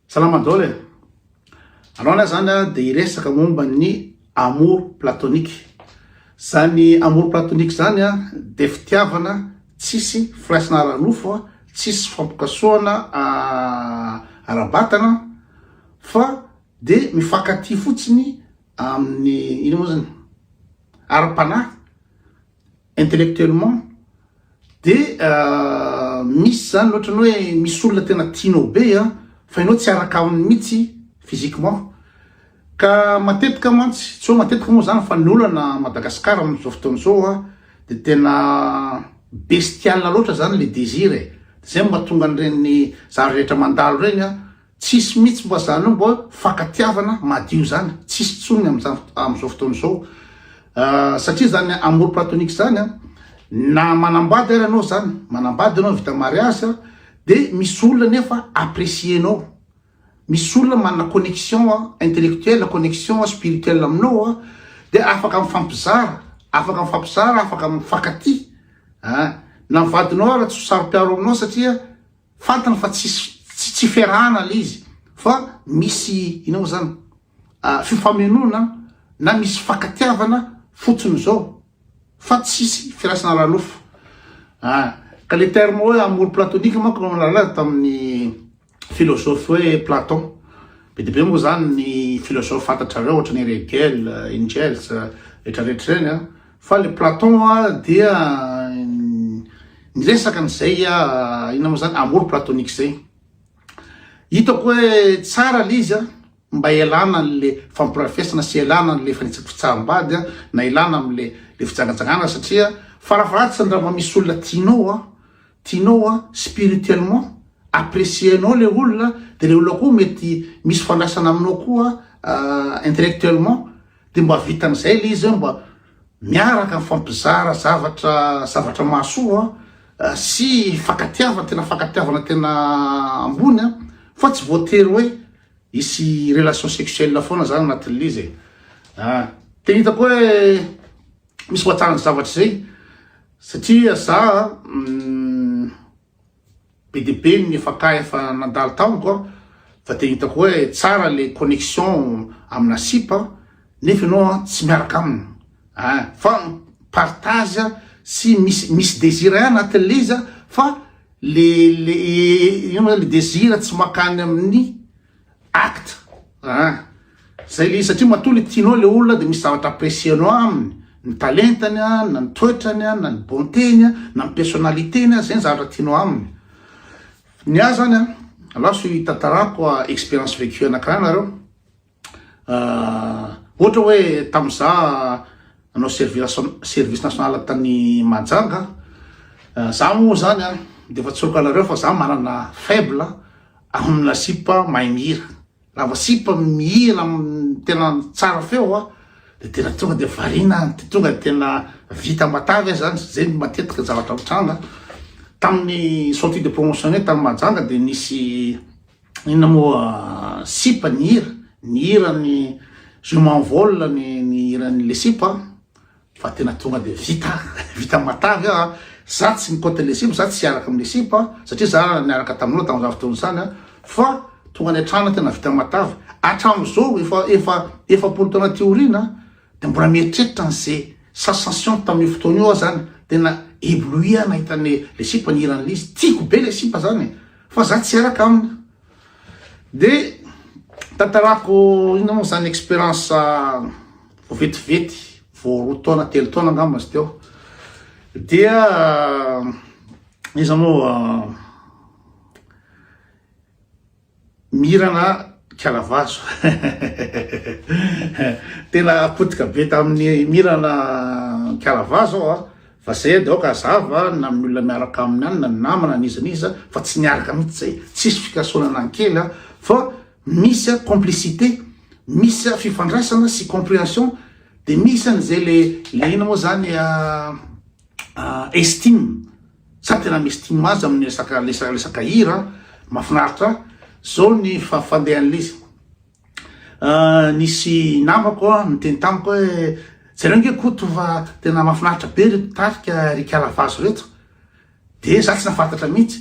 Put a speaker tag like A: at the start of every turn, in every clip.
A: Salama daholo e! Anao lahy zany a de hiresaka momba ny amour platonique. Zany amour platonique zany a de fitiavana tsisy firaisana ara-nofo, tsisy fifampikasohana ara-batana fa de mifankatia fotsiny amin'ny ino moa zany? ara-panahy. Intellectuellement de misy zany ohatrany hoe misy olona tena tianao be a, fa enao tsy araka aminy mitsy physiquement, ka matetika mantsy, tsy hoe matetika moa zany fa ny olana a Madagascar amin'izao fotoana izao a de tena bestial loatra zany le désir e, de zay no mahatonga an'ireny zary rehetra mandalo ireny a, Tsisy mitsy mba zany hoe mba fankatiavana madio zany tsisy tsony amzao fotoana zao satria zany amour platonique zany na manambady ary anao zany manambady anao vita mariage de misy olona nefa apprecie anao misy olona manana connection intellectuel connection spirituel aminao de afaka mifampizara afaka mifampizara afaka mifankatia na vadinao ary tsy saropiaro aminao satria Fantany fa tsisy tsy tsy fiarahana le izy fa misy ina moa zany fifamenoana na misy fakatiavana fotsiny zao fa tsisy firasana ara-nofo a ah, ka le terme hoe amour platonique manko no nalaza tamin'ny philosophe hoe Platon be dia be moa zany ny philosophe fantatrareo ohatra ny Hegel, Engels retraretra ireny a Fa le Platon a dia niresaka an'izay a, inona moa zany, amour platonique zay. Hitako hoe tsara le izy a, mba hialana an'le fampirafesana sy hialana an'le fanitsako fitsaham-bady a, na hialana am'le le fijangajangana satria farafahatsany raha vao misy olona tianao a, tianao a, spirituellement, apprécier-nao le olona, de le olona koa mety misy fandraisana aminao koa intellectuellement, Dia mba vitan'izay ilay izy mba miaraka mifampizara zavatra zavatra mahasoa sy fankatiavana tena fankatiavana tena ambony a fa tsy voatery hoe hisy relation sexuelle foana zany anatin'ilay izy e ah tena hitako hoe misy mahatsara ny zavatra izay satria za Be dia be ny fakà efa nandalo tamiko an, fa dia hitako hoe tsara ilay connexion amina sipa nefa ianao an tsy miaraka aminy an, fa partage sy misy misy désir ihany anatin'ilay izy fa le le ino moa zany le désir tsy mankany amin'ny Acte ah! Zay le izy satria matoa le tianao le olona de misy zavatra apprécier-nao aminy, ny talentany a, na ny toetrany a, na ny bonté-ny a, na ny personnalité-ny a, zay ny zavatra tianao aminy. Ny ahy zany an, alao asio hitantarako a expérience vécue anankiray nareo, ohatra hoe tamzah, Nanao service national tany Mahajanga an! Za moa zany an de efa tsoriko anareo fa za manana faible amina sipa mahay mihira. Raha vao sipa mihira tena tsara feo an de tena tonga de variana an! De tonga de tena vita matavy an! Zany zay no matetika zavatra mitranga. Tamin'ny sortie de promotion-nay tany Mahajanga de nisy Inona moa sipa ny hira, ny hira ny je m'envole ny ny hiran'ny le sipa an, fa tena tonga dia vita vita matavy aho an, za tsy mikoty le sipa, za tsy hiaraka amin'ny le sipa an, satria za niaraka taminao tamin'izany fotoana izany an, fa tonga any an-trano aho tena vita matavy, hatramin'izao efa efa efapolo taona aty aoriana an, Dia mbola mieritreritra an'ze sensation tamin'io fotoana io aho zany, tena ébloui aho nahita ny le sipa nihiran'i Liz, tiako be le sipa zany e, fa za tsy araka aminy. De tantarako inona moa zany expérience vao vetivety, vao roa taona telo taona angamba izy teo, dia iza moa. Mira na kiala vazo. Tena potika be tamin'ny mira na kiala vazo aho a. Fa zay de aoka hazava na amin'ny olona miaraka aminy any na ny namana n'iza n'iza fa tsy niaraka mihitsy zay. Tsisy fikasohana na ny kely a fa misy a complicité, misy a fifandraisana sy comprehension de misy an'izay le le ina moa zany a estime sa tena mi-estime azy amin'ny resaka resaka resaka hira mahafinaritra zao ny fafandehan'ilay izy nisy namako niteny tamiko hoe zareo nge koto fa tena mahafinaritra be ry mpitarika ry kala vazo reto de za tsy nafantatra mihitsy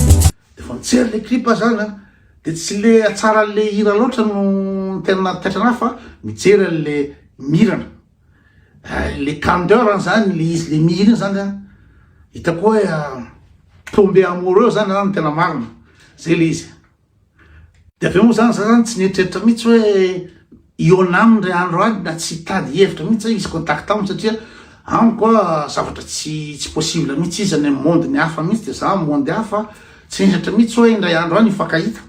A: Efa nijery le clip aho zany an, de tsy le tsara an'le hira loatra no tena taitra anahy fa mijery an'le mirana, le candeur an zany, le izy le mihira iny zany an, hitako hoe tomber amoureux zany zany no tena marina, zay le izy. Dia avy eo moa zany za zany tsy nieritreritra mihitsy hoe hihaona aminy ry andro any na tsy hitady hevitra mihitsy zay izy contact aminy satria amiko a zavatra tsy tsy possible mihitsy izy any amin'ny monde ny hafa mihitsy dia za amin'ny monde hafa tsy nieritreritra mihitsy hoe indray andro any hifankahita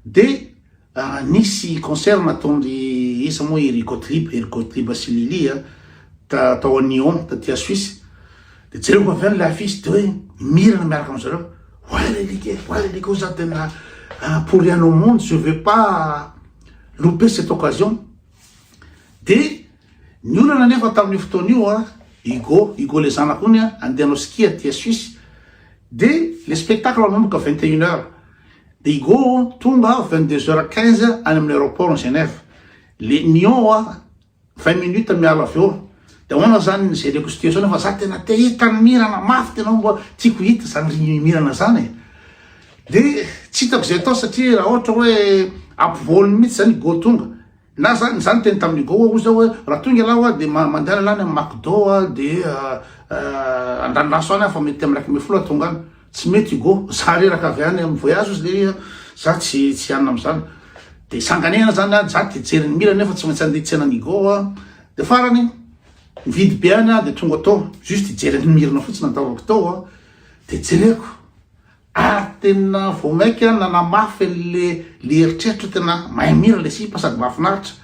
A: dia ah, nisy concert nataon'ry iza moa i ry Gottlieb i ry Gottlieb sy Lily a ta- tao à Nyon taty à Suisse Dia jereko avy any ilay afisy dia hoe mirana miaraka amin'izareo. Oay le like, oay le like, za tena pour rien au monde, je veux pas louper cette occasion. Dia ny olana nefa tamin'io fotoana io a, Hugo, Hugo le zanako iny a, andeha hanao ski aty à Suisse. Dia le spectacle manomboka 21 heures. Dia Hugo tonga 22 heures 15 any amin'ny aéroport ny Genève. Le Nyon a, 20 minutes miala avy eo de ahoana zany ny jereko situation fa za tena te hita ny mirana mafy tena hoe mba tiako hita zany ry mirana zany e de tsy hitako zay atao satria raha ohatra hoe ampivoany mihitsy zany go tonga na zany zany teny tamin'ny go ozy hoe raha tonga ialahy hoa de mandehana lany amin'ny macdo a de andranoraso any aho fa mety amin'ny iraika ambin'ny folo aho tonga any Tsy mety Hugo, za reraka avy any am voyage ozy le iha, za tsy tsy hanina amzany. De sanganehana zany an, za te jery ny mira nefa tsy maintsy andeha tsena any Hugo an. De farany nividy be any an de tonga tao, juste hijery ny mirana fotsiny nataovako tao an. De jereko, ary tena vao maika nanamafy anle le eritreritro tena mahay mira le sipa sady mahafinaritra.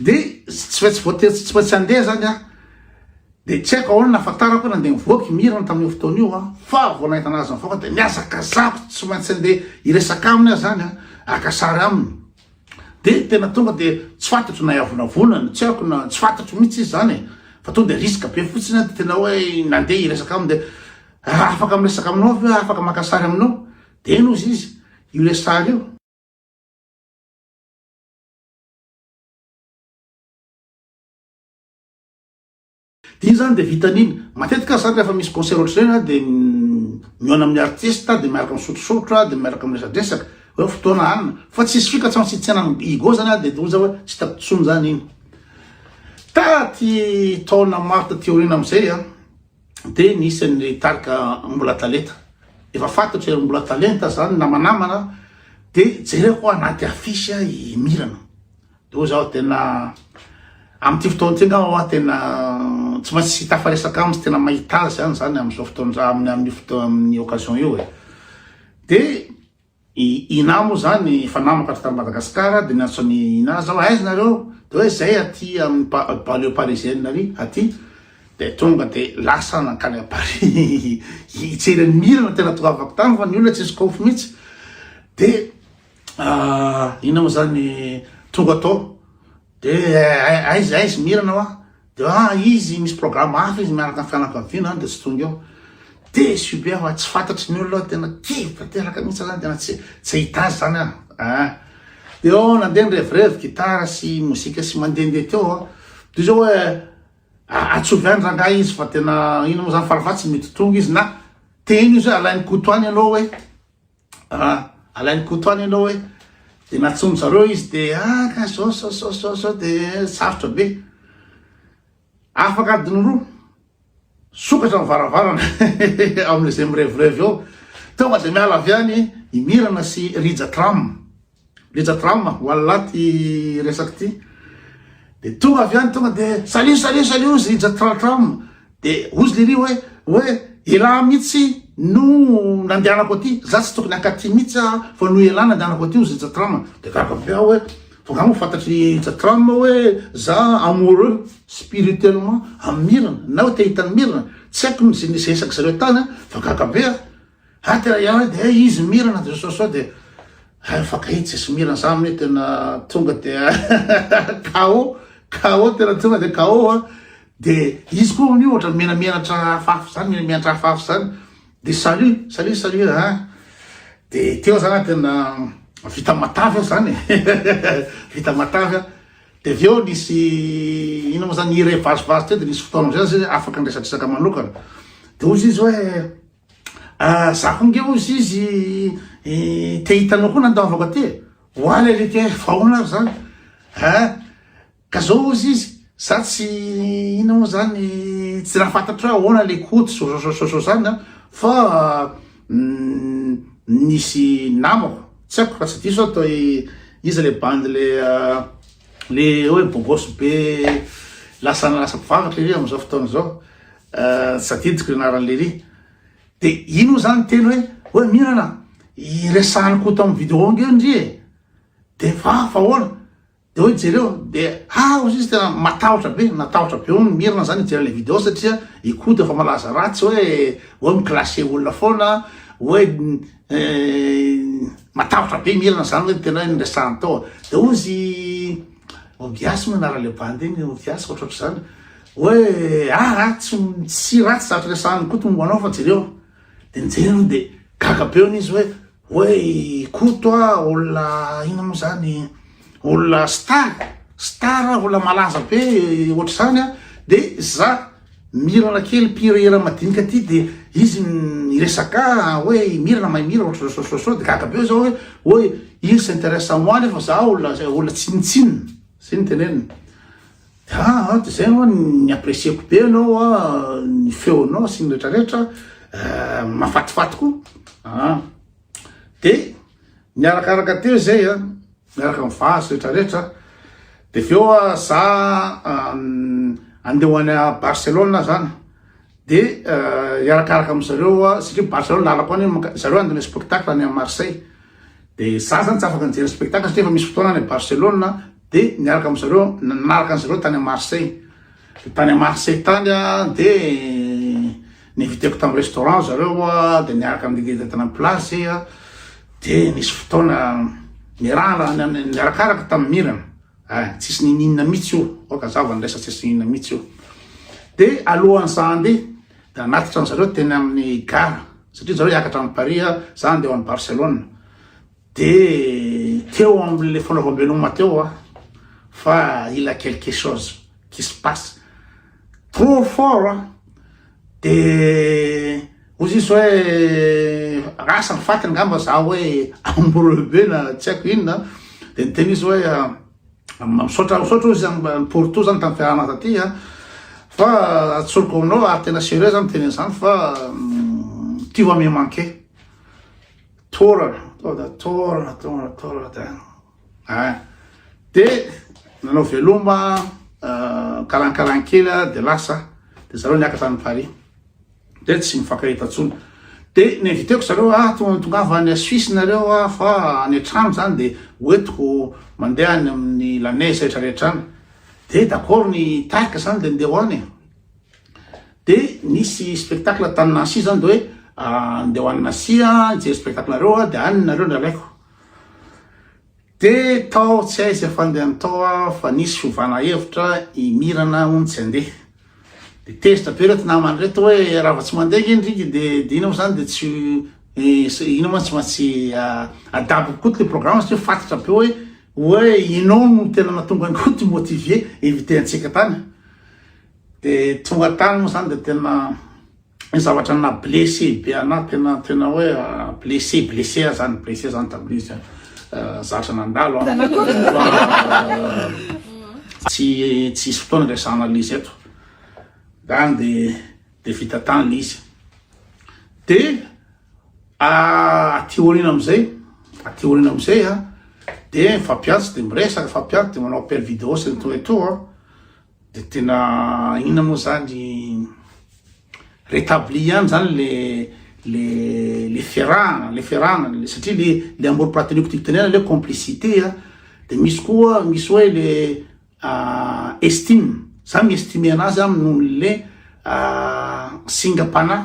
A: de tsy maintsy voatery tsy tsy maintsy handeha zany aho de tsy haiko ahoana nahafantarako hoe nandeha nivoaka i Mirana tamin'io fotoana io an fa vao nahita anazy nivoaka de nihazakazako tsy maintsy handeha hiresaka aminy aho zany an haka sary aminy de tena tonga de tsy fantatro na hiavonavonana tsy haiko na tsy fantatro mihitsy izy zany e fa tonga de risque be fotsiny an de tena hoe nandeha hiresaka aminy de ah, afaka miresaka aminao ve afaka maka sary aminao de eny ozy izy io le sary io Dia iny zany dia vitany iny. Matetika aza zany rehefa misy concert ohatr'izay na dia mihaona amin'ny artista dia miaraka misotrosorotra dia miaraka miresadresaka hoe fotoana hanina fa tsisy fika tsy maintsy hitsena amin'ny Igo zany dia hoy za hoe tsy hitako intsony zany iny. Taty taona maro taty aoriana amin'izay a. dia nisy an'ireo tarika mbola talenta efa fantatro ery mbola talenta zany namanamana de jereko anaty affiche i mirana de ho zaho tena amin'ity fotoana ity ngamba hoa tena tsy maintsy sy tafaresaka aminy tena mahita azy any zany amin'izao fotoana-dra amin'ny amin'ny fotoana amin'ny occasion io e de I Inah moa zany efa namako aty Madagascar de miantso an'i Inah zaho aiza nareo de hoe zay aty amin'ny banlieue parisienne ary aty de tonga de lasa nankany à Paris hitsery an'i Mira no tena toavako tany fa ny olona tsisy kofo mitsy de inona moa zany tonga tao de aiza aiza Mira nawa Raha izy misy programme hafa izy miaraka amin'ny fianakaviana any dia tsy tonga eo. Déçu be aho fa tsy fantatry ny olona aho, tena kivy tanteraka mihitsy aho zany, tena tsy tsy hahita azy zany aho. Ah. Dia eo nandeha ny revirevy gitara sy mozika sy mandehandeha teo aho. Dia izao hoe ah, atsovy any rangahy izy fa tena inona moa zany farafahatsiny mety tonga izy na teny izy hoe alain'i Koto any ianao hoe. raha alain'i Koto any ianao hoe dia natsomy zareo izy dia ah ka zao zao zao zao zao dia sarotra be afaka adiny roa sokatra ny varavarana amin'izay mirevirevy eo tonga dia miala avy any imirana sy rija tram Betsaka drama, wallah ty resaka ty. Dia tonga avy any tonga dia salut salut salut ozy i Jatratram. Dia ozy lery hoe hoe elah mihitsy no nandehanako aty. Za tsy tokony hankaty mihitsy aho fa no elah nandehanako aty ozy i Jatram. Dia gaga be aho hoe fa nga moa fantatry Jatram hoe za amoureux spirituellement amin'ny Mirana na hoe te hita an'i Mirana. Tsy haiko ny zay nisesaka zareo tany fa gaga be aho. Aty raha ianao dia eh izy mirana Jesosy sao dia eh fakay tsisy mirana za amin'ny tena tonga dia KO KO tena tonga dia KO a dia izy koa amin'io ohatra menamenatra afafy zany menamenatra afafy zany dia salut salut salut a dia teo zany tena vita matavy zany vita matavy dia avy eo nisy ino moa zany iray vazivazy teo dia nisy fotoana amizay zany afaka niresa-dresaka manokana dia hoy izy hoe Za ko nge ozy izy te hitanao koa nandaovako aty e. Oa le lety hoe vahoana ary zany. Ha? Ka zao ozy izy, za tsy ina moa zany, tsy raha fantatro hoe ahoana le koty sososososo zany an, fa nisy namako, tsy haiko raha tsy diso aho toy iza le bandy le le hoe bogosy be lasa lasa mpivavaka iry am'zao fotoana zao. Tsy tadidiko ny anaran'i Lery. Dia iny moa zany teny hoe, hoe Mirana, iresahany koa tamin'ny vidéo nge ndry e. Dia fa fa ahoana? Dia hoe jereo, dia ha hozy izy tena matahotra be, natahotra be hono Mirana zany hijery ilay vidéo satria i Koto efa malaza ratsy hoe, hoe mi-clasher olona foana, hoe matahotra be Mirana zany hoe tena hoe niresahany tao. Dia hozy Ombiasy moa anarany le bandy igny, ombiasy ohatrohatry zany. Hoe ah ah tsy tsy ratsy zatra resahan'i Koto momba anao fa jereo. De nijery aloha de gaga be hono izy hoe hoe Koto a olona inona moa zany olona star star olona malaza be ohatr'izany a de za Mirana kely mpihira hira madinika ty de izy miresaka hoe i Mirana mahay mihira ohatry zao zao zao de gaga be zaho hoe oy il s'interesse à moi nefa zaho olona olona tsinontsinona zay ny teneniny de aa de zay aloha ny apprécier-ko be anao a ny feonao sy ny retraretra mahafatifaty koa aa de niarakaraka teo zay a miaraka amin'ny vazo retraretra de avy eo a za andeha ho any a Barcelone zany de hiarakaraka amy zareo a satria Barcelone lalako any manka- zareo andeha hanao spectacle any a Marseille de za zany tsy afaka nijery spectacle satria efa misy fotoana any a Barcelone de niaraka amy zareo nanaraka an'i zareo tany a Marseille Tany Marseille tany aho dia ni-inviteko tamin'ny restaurant zareo aho dia niaraka amin'ny guide tany amin'ny plage zay aho dia nisy fotoana niarahana niarakaraka tamin'ny mirana eh, tsisy nininona mihitsy io oka zava ny resa tsisy nininona mihitsy io dia alohan'ny za handeha dia anatitra an'zareo teny amin'ny gara satria zareo hiakatra amin'ny Paris aho za handeha ho any Barcelone Dia teo amin'ilay fanaovam-beloma teo aho fa il a quelque chose qui se passe trop fort an! Dia hoy izy hoe rasa ny faty angamba za hoe ambreux be na tsy haiko inona an! Dia niteny izy hoe misaotra misaotra hoy izy amin'ny porto zany tamin'ny fiarahana taty an! Fa tsoriko aminao ary tena sérieux za miteny an'izany fa tu vas me manquer. Torana, tonga dia torana, torana, torana tena. Eh. Dia nanao veloma, eh, kalankalan kely aho, dia lasa. Dia zareo niakatra any Paris. Dia tsy mifankahita intsony. Dia ni-inviteko zareo, ah, tonga tongava any Suisse nareo, ah, fa any an-trano izany dia hoentiko mandeha any amin'ny Lanez rehetra rehetra any. Dia d'accord ny tarika izany dia ndeha ho any e. Dia nisy spectacle tany Nancy izany dia hoe andeha ho any Nancy aho hijery spectacle nareo aho dia any nareo nalaiko. Dia tao tsy hay izay fandehany tao aho fa nisy fiovana hevitra i Mirana hono tsy handeha. Dia tezitra be ireto namany ireto hoe raha vao tsy mandeha ange ny riky dia dia inona moa izany dia tsy inona moa tsy maintsy adaboko koa ilay programme satria fantatra be hoe hoe ianao no tena nahatonga an'i Koto motiver inviter antsika tany. Dia tonga tany moa zany dia tena ny zavatra na blessé be anah tena tena hoe ah, blessé blessé aza ny blessé zany tamin'izy ah, zatra nandalo ah. tsy tsy hisy fotoana resahana l'izy eto zany dia dia vita tany izy dia aty aoriana amin'izay aty aoriana amin'izay a dia fampiantsy dia miresaka fampiantsy dia manao appel vidéo sy ny toa toa De tena inona moa zany rétabli ihany zany le le le ferahana le ferahana le satria le le amour platonique tiako tenenana le complicité a de misy koa misy hoe le estime za mi-estime anazy aminy noho le singam-panahy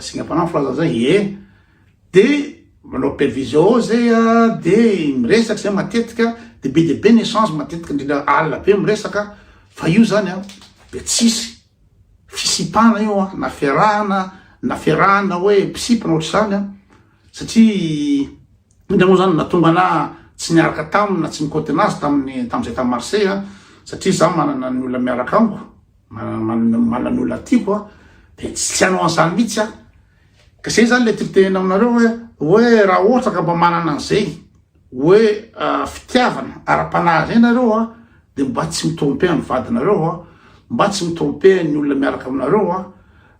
A: singam-panahy filaza zay ie de manao prevision zay a de miresaka zay matetika de be dia be ny echange matetika indrindra alina be miresaka fa io zany a de tsisy fisipana io a na fiarahana na fiarahana hoe mpisipana ohatr'izany a satria indrindra moa zany natonga ana tsy niaraka taminy na tsy nikoty anazy taminy tamizay tamy Marseille an satria za manana ny olona miaraka amiko manana ny olona tiako an de tsy tsy hanao an'izany mihitsy an ka zay zany le tiako tenena aminareo hoe hoe raha ohatra ka mba manana an'izay hoe fitiavana ara-panahy zay nareo an de mba tsy mitromper ny vadinareo an mba tsy mitromper ny olona miaraka aminareo an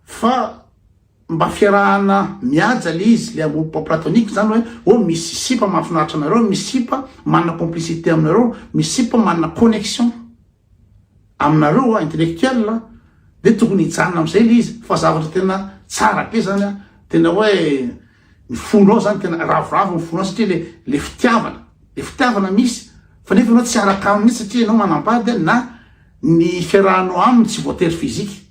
A: fa Mba fiarahana mihaja le izy, le amoup platonique zany hoe oh misy sipa mahafinaritra anareo, misy sipa manana complicité aminareo, misy sipa manana connexion aminareo an, intellectuel an, de tokony hijanona am'zay le izy, fa zavatra tena tsara be zany an, tena hoe ny fonao zany tena ravoravo ny fonao satria le le fitiavana, le fitiavana misy fa nefa anao tsy araka aminy satria ianao manambady an, na ny fiarahanao aminy tsy voatery physique.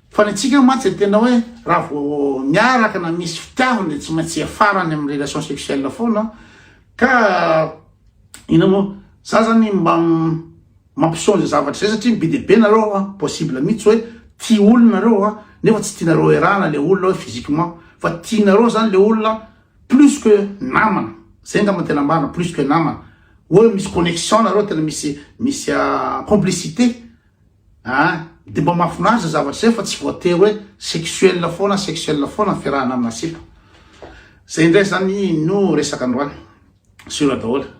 A: Fa ny antsika mantsy dia tena hoe raha vao miaraka na misy fitiavana dia tsy maintsy hiafara any amin'ny relation sexuelle foana ka inona moa za zany mba mampiseho an'izay zavatra izay satria be dia be nareo a possible mihitsy hoe tia olona nareo a nefa tsy tianareo erahana le olona hoe physiquement fa tianareo zany le olona plus que namana zay angamba tena marina plus que namana hoe misy connexion nareo tena misy misy complicité Ah! Dia mba mahafinaritra izay zavatra izay fa tsy voatery hoe sexuel foana sexuel foana ny fiarahana amina sipa. Izay indray izany no resaka androany. Sur daholo.